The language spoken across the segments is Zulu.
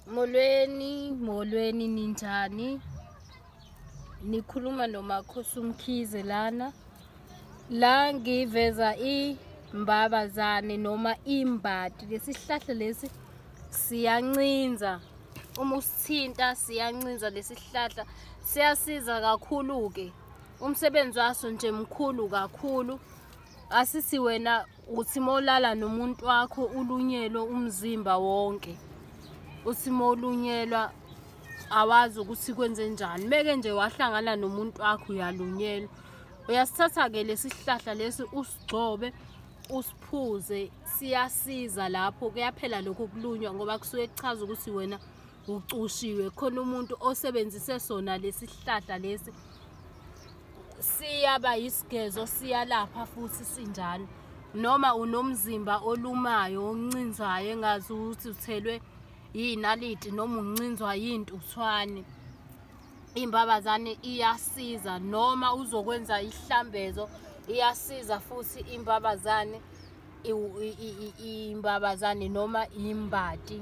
molweni molweni ninjani nikhuluma nomakhosi umkhize lana la ngiveza imbabazane noma imbadi lesihlahla lesi siyancinza uma usithinta siyancinza lesihlahla siyasiza kakhulu-ke umsebenzi waso nje mkhulu kakhulu asisi wena uthi molala nomuntu wakho ulunyelwe umzimba wonke uthi molunyelwa awazi ukuthi kwenze njani meke nje wahlangana nomuntu wakho uyalunyelwa uyasithatha-ke lesi sihlahla lesi usigcobe usiphuze siyasiza lapho kuyaphela lokho kulunywa ngoba kusuke kuchaza ukuthi wena ucushiwe khona umuntu osebenzise sona lesihlahla lesi siyaba yisigezo siyalapha futhi sinjalo noma unomzimba olumayo oncinzayo engazi ukuthi uthelwe yinaliti noma uncinzwa yintuthwane imbabazane iyasiza noma uzokwenza ihlambezo iyasiza futhi imbabazane imbabazane noma imbati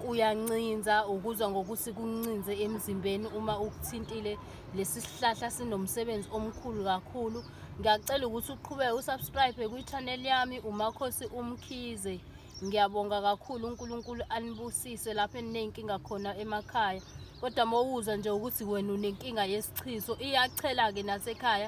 kuyancinza ukuzwa ngokuthi kuncinze emzimbeni uma ukuthintile lesi sihlahla sinomsebenzi omkhulu kakhulu ngiyacela ukuthi uqhubeke usubscribe kwi-channel yami umakhosi umkhize ngiyabonga kakhulu unkulunkulu anibusise lapho eninenkinga khona emakhaya kodwa mowuzwa nje ukuthi wena unenkinga yesichiso iyachela-ke nasekhaya